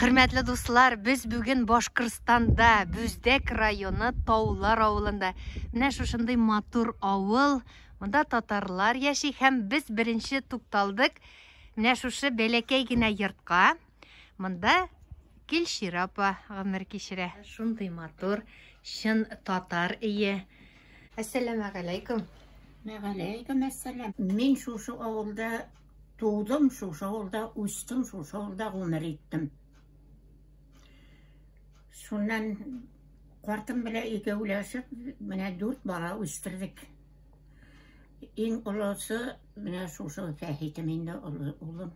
Хөрмәтле дуслар, без бүген Башкорстанда, Бүздәк районы Таулар авылында. Менә шушындый матур авыл, монда татарлар яши һәм без беренче тукталдык менә шушы бәләкәй генә йортка. Монда Гөлчирә апа гомер кичерә. Шундый матур, чын татар өе. Әссәламәгаләйкүм. Мәгаләйкүм әссәлам. Мин шушы авылда Тудым шушы авылда, үстем шушы авылда, гомер иттем. Шуннан картым белән икәүләшеп, менә дүрт бала үстердек. Иң олысы менә шушы Фәхитем инде олы улым.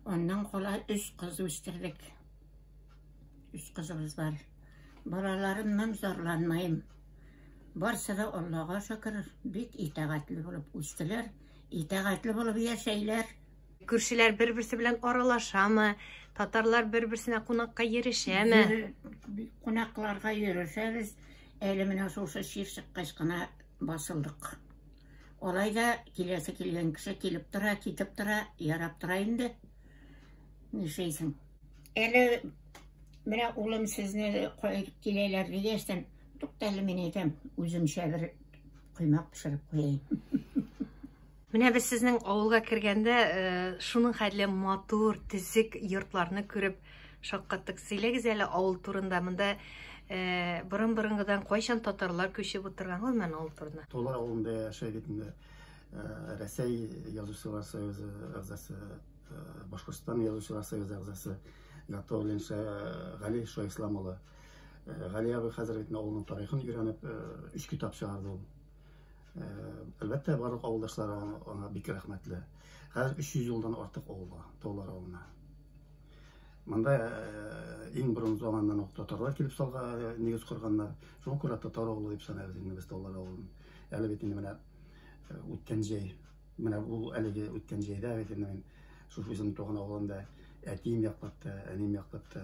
Аннан кала өч кыз үстердек. Өч кызыбыз бар. Балаларымнан зарланмыйм. Барсы да Аллага шөкер, бик итагатьле булып үстеләр. Итәгатьле булып яшәйләр. Күршеләр бер-берсе белән аралашамы? Татарлар бер-берсенә кунакка йөрешәме? Кунакларга йөрешәбез. Әле менә шушы чир чыккач кына басылдык. Алай да киләсе килгән кеше килеп тора, китеп тора, ярап тора инде. Нишәйсең? Әле менә улым сезне киләләр дигәчтән, туктале мин әйтәм, үземчә бер Коймак пешереп куяйм. Менә без сезнең авылга кергәндә э, шуның хәтле матур, төзек йортларны күреп шаккаттык. Сөйләгез әле авыл турында. Монда э, борын-борынгыдан кайчан татарлар күчеп утырган ул мен авыл турында? Тола авылында яшәй бит инде. Э, Рәсәй язучылар союзы әгъзасы, Башкортстан язучылар союзы әгъзасы Гатауллин Гали Шоислам улы. Э, Гали абый хәзер бит авылның тарихын өйрәнеп, э, өч китап чыгарды ул. Э, әлбәттә, барлык авылдашлары аңа бик рәхмәтле. Хәзер 300 елдан артык авылга, Таулар авылына. Монда иң борын заманнан ук татарлар килеп салга нигез корганнар. Шуңа күрә татар авылы дип саныйбыз инде без Таулар авылын. Әле бит инде менә үткән җәй Менә ул әлеге үткән җәйдә әйтелде мин шушы үзем туган авылымда әтием яклап та, әнием яклап та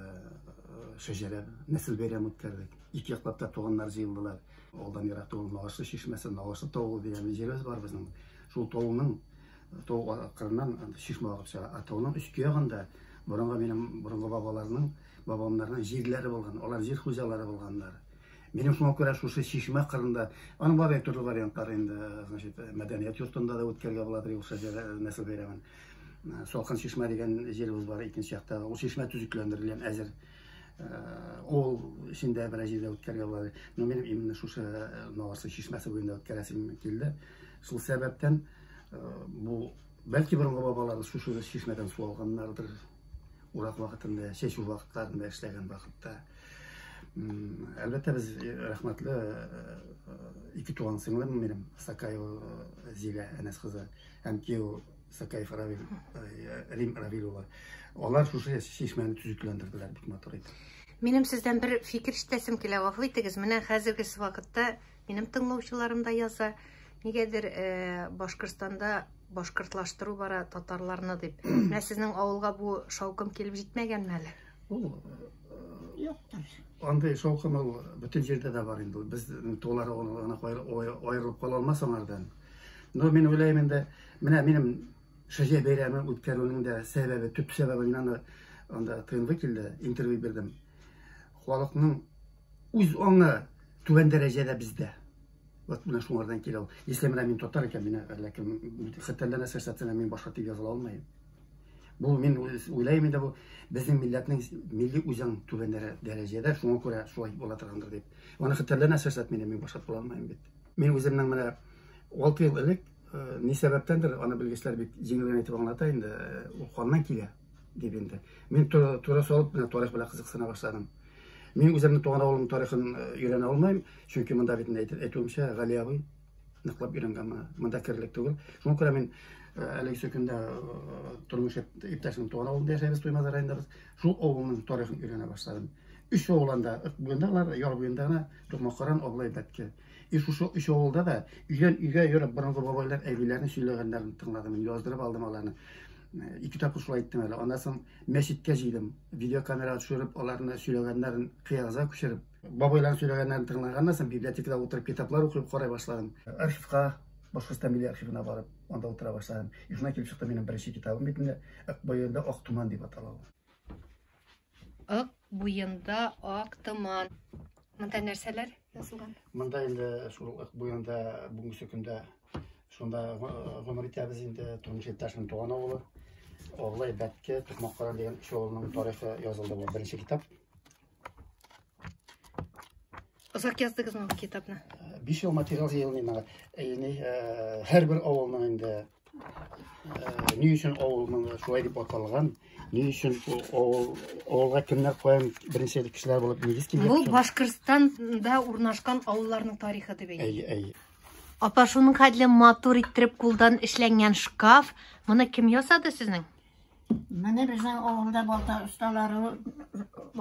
шәҗәрә нәсел бәйрәм үткәрдек. Ике яклап та туганнар җыелдылар. Алдан ерак түгел Нагашлы чишмәсе, Нагашлы тавы дигән җиребез бар безнең. Шул тавының тау кырыннан чишмә агып чыга. Ә тауның өске ягында борынгы минем борынгы бабаларның, бабамнарның җирләре булган. Алар җир хуҗалары булганнар. Минем шуңа күрә шушы чишмә кырында, аның бар бит төрле вариантлары инде, значит, мәдәният йортында да үткәрергә була бит юкса җыр нәсел бәйрәмен. Салкын чишмә дигән җиребез бар икенче якта. Ул чишмә төзекләндерелгән әзер. Ул эчендә берәр җирдә үткәрергә була. Но минем именно шушы Наварсы чишмәсе буенда үткәрәсем килде. Шул сәбәптән бу бәлки борынгы бабаларыбыз шушы чишмәдән су алганнардыр. Урак вакытында, чәчү вакытларында эшләгән вакытта. Әлбәттә, без э, рәхмәтле э, э, ике туган сеңлем минем, Сакаева Зилә Әнәс кызы һәм кияү Сакаев Равил, Рим Равил улы. Алар шушы чишмәне төзекләндерделәр бик матур итеп. Минем сездән бер фикер ишетәсем килә, гафу итегез. Менә хәзерге вакытта минем тыңлаучыларым да яза. Нигәдер э, Башкортстанда башкортлаштыру бара татарларны дип. Менә сезнең авылга бу шаукым килеп җитмәгәнме әле? Ул юктыр. Андый шаукым ул бөтен җирдә дә бар инде. Без тулары гына аерылып кала алмас аңардан. Но мин уйлыйм инде, менә минем Шәҗә бәйрәме үткәрүнең дә сәбәбе, төп сәбәбе мин аны анда тыйнлы килде, интервью бирдем. Халыкның үз аңы түбән дәрәҗәдә бездә. Вот менә шуңардан килә ул. Если менә мин татар икән, мин әллә кем хәтәрләнә сәсәтенә мин башка дип языла алмыйм. Бу мин уйлайм инде бу безнең милләтнең милли үзаң түбәннәре дәрәҗәдә, шуңа күрә шулай була торгандыр дип. Аны хәтерләнә сәсәт мине мин башкарып була алмыйм бит. Мин үземнең менә 6 ел элек э, ни сәбәптәндер аны белгечләр бик җиңел генә итеп аңлата инде, э, ул каннан килә дип инде. Мин туры салып менә тарих белән кызыксына башладым. Мин үземнең туган авылым тарихын э, өйрәнә алмыйм, чөнки монда бит әйтүемчә Гали абый ныклап өйрәнгәнме монда керлек түгел шуңа күрә мин әлеге сөкендә тормыш иптәшнең туган авылында яшәйбез туймазы районындабыз шул авылның тарихын өйрәнә башладым өч авылында буенда алар яр буенда гына тукмакаран абылай бәтке и шушы өч авылда да өйдән өйгә йөреп борынгы бабайлар әбиләрнең сөйләгәннәрен тыңладым мин яздырып алдым аларны ике тапкыр шулай иттем әле аннан соң мәчеткә җыйдым видеокамерага төшереп аларны сөйләгәннәрен кыягызга күчереп Бабайлар сөйләгәннәрен тыңлаганнан соң библиотекада утырып китаплар укып карай башладым. Архивка, Башкортстан милли архивына барып, анда утыра башладым. И шунда килеп чыкты минем беренче китабым бит инде. Ак буенда ак туман дип атала ул. Ак буенда ак туман. Монда нәрсәләр язылган? Монда инде шул ак буенда бүгенге көндә шунда гомер итәбез инде. Тормыш иптәшнең туган авылы. Оглай Бәтке, Тукмаккаран дигән кеше авылының тарихы язылды бу беренче китап. Озак яздыгызмы бу китапны? Биш ел материал җыелмый мага. Яни һәрбер авылның инде ни өчен авылның шулай дип аталган, ни өчен авыл авылга кемнәр каян беренче кешеләр булып нигез килгән. Бу Башкортстанда урнашкан авылларның тарихы дип әйтә. Әй, әй. Апа, шуның хәтле матур иттереп кулдан эшләнгән шкаф. Моны кем ясады сезнең? Менә безнең авылда балта осталары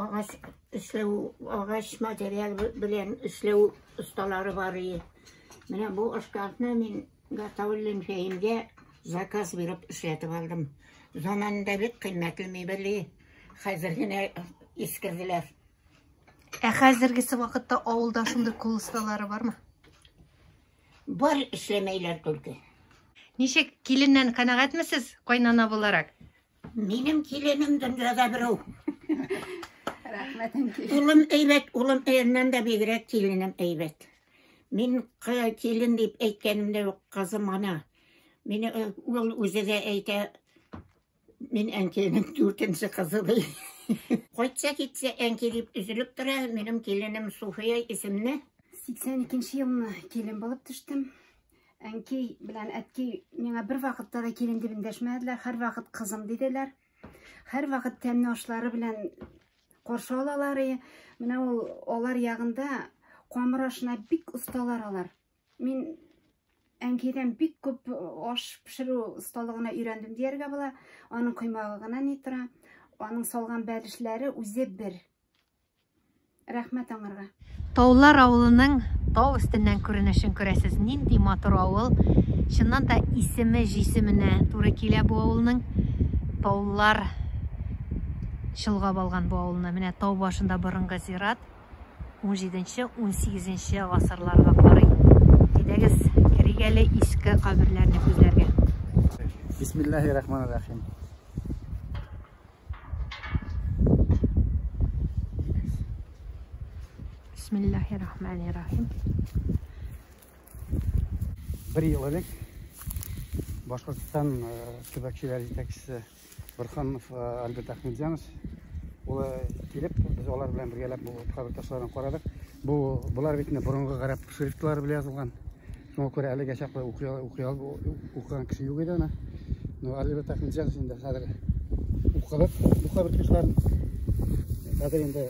агач эшләү, агач материал белән эшләү осталары бар и. Менә бу шкафны мин Гатауллин Фәимгә заказ биреп эшләтеп алдым. Заманында бик кыйммәтле мебель, хәзер генә искерделәр. Ә хәзергесе вакытта авылда шундый кул осталары бармы? Бар эшләмәйләр түлке. Ничек, киленнән канәгатьмесез, кайнана буларак? Минем киленем дөньяда берәү. Рәхмәтем килен. Улым әйбәт, улым әйеннән дә бигрәк киленем әйбәт. Мин кы- килен дип әйткәнемдә юк, кызым ана. Мине э, ул үзе дә әйтә, Мин әнкәйнең дүртенче кызы бей. Кайтса китсә әнкәй дип үзелеп тора. Минем киленем Суфия исемле. 82 елны килен булып төштем. Әнкәй белән әткәй миңа бер вакытта да килен дип эндәшмәделәр. Һәр вакыт кызым диделәр. Һәр вакыт тәмне ашлары белән каршы алалар. Менә ул алар ягында камыр ашына бик осталар алар. Мин әнкәйдән бик күп аш пешерү осталыгына өйрәндем дияргә була. Аның коймагы гына ни тора, аның салган бәлешләре үзе бер. Рәхмәт аңарга. Таулар авылының тау өстеннән күренешен күрәсез. Нинди матур авыл. Чыннан да исеме җисеменә туры килә бу авылның. Таулар чолгап алган бу авылны. Менә тау башында борынгы зират. 17-18 гасырларга карый. Әйдәгез, керик әле иске каберләрне күзләргә. Бисмиллахи рахмани рахим. Бисмиллахи рахмани рахим. Бер ел элек Башкортстан э, төбәкчеләр җитәкчесе Бырханов э, Альберт Ахмедзянович улы килеп, без алар белән бергәләп бу кабер ташларын карадык. Бу болар бит инде борынгы гарәп шрифтлары белән язылган. Шуңа күрә әлегә чаклы укыган кеше юк иде аны. Ну, Альберт Ахмедзянович инде хәзер укыдык бу кабер ташларын. Хәзер инде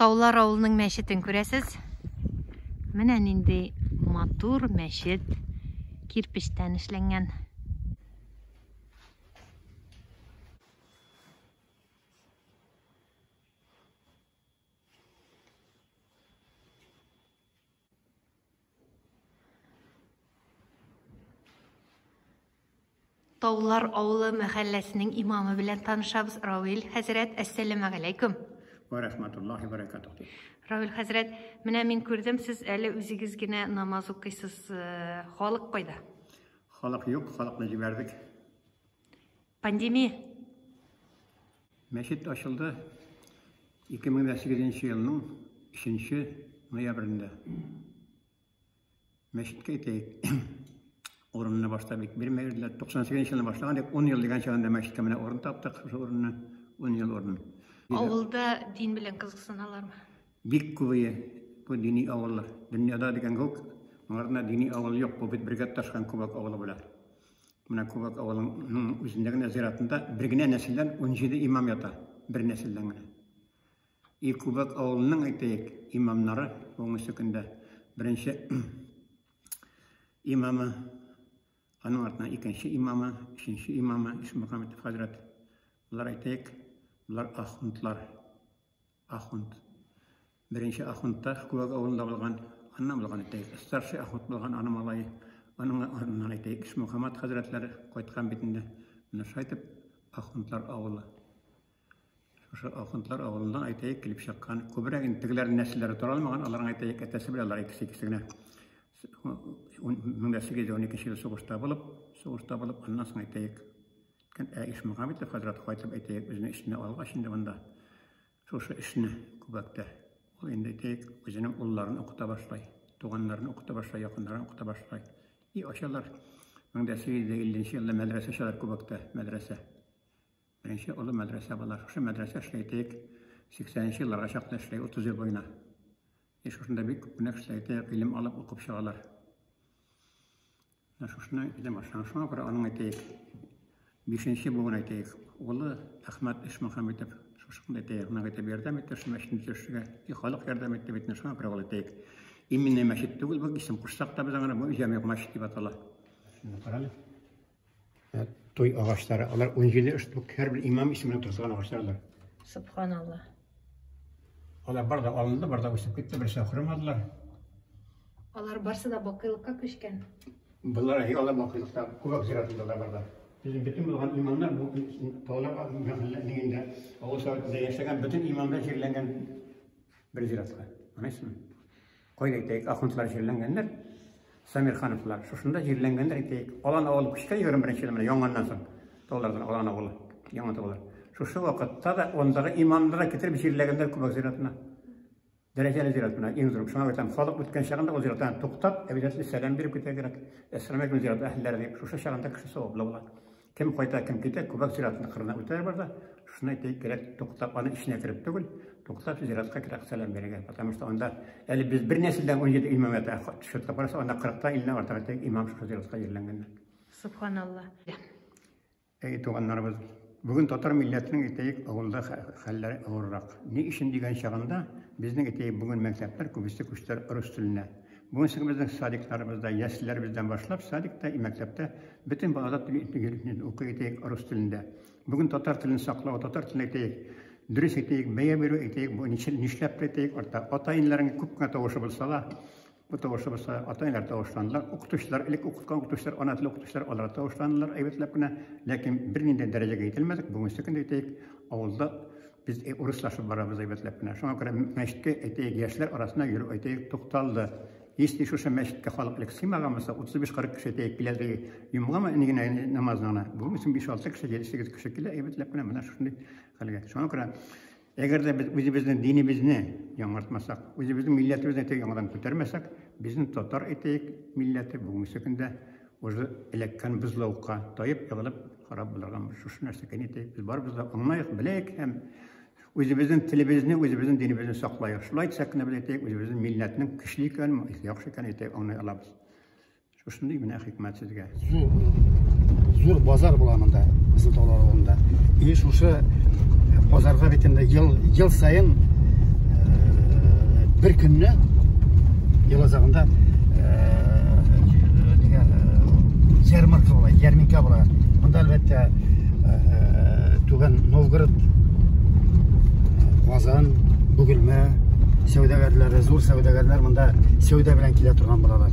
Таулар авылының мәчетен күрәсез. Менә нинди матур мәчет кирпечтән эшләнгән. Таулар авылы мәхәлләсенең имамы белән танышабыз. Равил хәзрәт, әссәламә галәйкүм. Ва рахматуллахи ва баракатуху. Равил хәзрәт, менә мин күрдем, сез әле үзегез генә намаз укыйсыз. Халык кайда? Халык юк, халыкны җибәрдек. Пандемия. Мәчет ачылды 2008 елның 3 ноябрендә. Мәчеткә әйтәйек, урынны башта бик бирмәделәр. 98 елны башлаган дип, 10 ел дигән чагында мәчеткә менә урын таптык, шул урынны, 10 ел урын. Авылда дин белән кызыксыналармы? Бик күбәе бу дини авыллар. Дөньяда дигән күк, моңарда дини авыл юк, бу бит бергә ташкан күбәк авылы була. Менә Кубак авылының үзендә генә зиратында бер генә нәселдән 17 имам ята. Бер нәселдән генә. И Кубак авылының, әйтәйек, имамнары бүгенге көндә беренче имамы, аның артына икенче имамы, өченче имамы Ишмөхәммәтов хәзрәт. Болар әйтәйек, болар ахунтлар. Ахунд. Беренче ахунд та Күәк авылында булган, аннан булган әйтәйек. Старший ахунд булган аның малае, аның артыннан әйтәйек, Ишмөхәммәт хәзрәтләре кайткан бит инде. Менә шулай итеп, ахундлар авылы. Шушы ахундлар авылыннан әйтәйек, килеп чыккан. Күбрәк инде тегеләрнең нәселләре тора алмаган, аларның әйтәйек, әтәсе белән алар икесе икесе генә. Мең дә сигез йөз дә уникенче ел сугышта булып, сугышта булып, аннан соң әйтәйек, Ә Ишмөхәммәтов хәзрәт кайтып, әйтәйек, үзенең эшне алгач инде монда, шушы эшне күбәктә, ул инде, әйтәйек, үзенең улларын укыта башлай, туганнарын укыта башлай, якыннарын укыта башлай. И ачалар. 1850 елда мәдрәсә ачалар күбәктә, мәдрәсә. Беренче олы мәдрәсә була. Шушы мәдрәсә эшли, әйтәйек, 80 елларга чаклы эшли, 30 ел буена. И шушында бик күп кенә кешеләр, әйтәйек, гыйлем алып, укып чыгалар. Менә шушына эзләп башлаган. Шуңа күрә аның әйтәек, бишенче буын әйтәек, улы Әхмәт Ишмөхәммитов шушында әйтәек, гына әйтеп ярдәм итте шул мәчетне төшергә. И халык ярдәм итте бит, шуңа күрә ул әйтәек. Именно мәчет түгел, бу исем кушсак та без аңа, бу җәмигъ мәчет дип атала. Шуны карале. Ә, той агачлары, алар 17 штук, һәрбер имам исеменә тозган агачлардыр. Субханалла. Алар бар да алынды, бар да үсеп китте, берсе ахырмадылар. Алар барсы да бакыйлыкка күчкән. Болар алар бакыйлыкта күбәк зиратында да барда. Безнең бөтен булган имамнар бу тауларга мәхәлләнең инде авыл советында яшәгән бөтен имамнар җирләнгән бер зиратка. Анайсыңмы? Кайда әйтәйек, ахунтлар җирләнгәннәр, Самирхановлар, шушында җирләнгәннәр әйтәйек. Алан авылы күчкә 21 елда менә яңаннан соң. Таулардан Алан авылы, яңа таулар. Шушы вакытта да ондагы имамны да китереп җирләгәннәр Күбәк зиратына. Дәрәҗәле зират менә иң зур. Шуңа әйтәм, халык үткән чагында ул зиратта туктап, әбидәсенә сәлам биреп китә кирәк. Әссәламу алейкум зират әһелләре дип, шушы чагында кеше саваплы була. Кем кайта, кем китә, күбәк зиратының кырына үтәр бар да, шуны әйтәйек кирәк, туктап, аны эченә кереп түгел, туктап зиратка кирәк сәлам бирергә. Потому что анда, әле без бер нәселдән 17 имам әйтә, төшерткә барса, анда 40-та илне артык әйтәйек, имам шушы зиратка җирләнгәннәр. Субханалла. Әй, туганнарыбыз, бүген татар милләтенең әйтәйек, авылда хәлләре авыррак. Ни өчен дигән чагында, безнең әйтәйек, бүген мәктәпләр күбесе күчтеләр рус теленә. Бүген соң безнең садикларыбызда, яслеләребездән башлап, садикта и мәктәптә бөтен балада тел итмегелекне укый әйтәек рус телендә. Бүген татар телен саклау, татар телен әйтәек, дөрес әйтәек, бәя бирү әйтәек, бу ничә нишләп тә әйтәек, арта ата-иниләрнең күп кенә тавышы булса да, бу тавышы булса, ата-иниләр тавышландылар, укытучылар, элек укыткан укытучылар, ана теле укытучылар, алар да тавышландылар әйбәтләп кенә, ләкин бернинди дәрәҗәгә ителмәдек, бүгенге көндә әйтәек, авылда Без урыслашып барабыз әйбәтләп кенә. Шуңа күрә мәчеткә, әйтәйек, яшьләр арасына йөрү, әйтәйек, тукталды. Если шушы мәчеткә халык элек сыймаган булса, 35-40 кеше әйтәйек, киләдеге йомгамы инде генә намазына гына. Бүген өчен 5-6 кеше, 7-8 кеше килә, әйбәтләп кенә менә шушындый хәлгә. Шуңа күрә әгәр дә без үзебезнең динебезне яңартмасак, үзебезнең милләтебезне яңадан күтәрмәсәк, безнең татар әйтәйек милләте бүгенге көндә Уже эләккән бозлавыкка таеп егылып карап булырган шушы нәрсә кени ди. Без барыбыз да аңлаек, беләек һәм үзебезнең телебезне, үзебезнең динебезне саклаек. Шулай итсәк кенә без әйтәйек, үзебезнең милләтнең көчле икәнен, яхшы икәнен әйтәйек, аңлый алабыз. Шушындый менә хикмәт сезгә. Зур, зур базар була монда, безнең таулар авылында. И шушы базарга бит инде ел, ел саен э, бер көнне ел азагында нигә ярмарка була ярминка була монда әлбәттә түбән новгород казан бүгелмә сәүдәгәрләре зур сәүдәгәрләр монда сәүдә белән килә торган булалар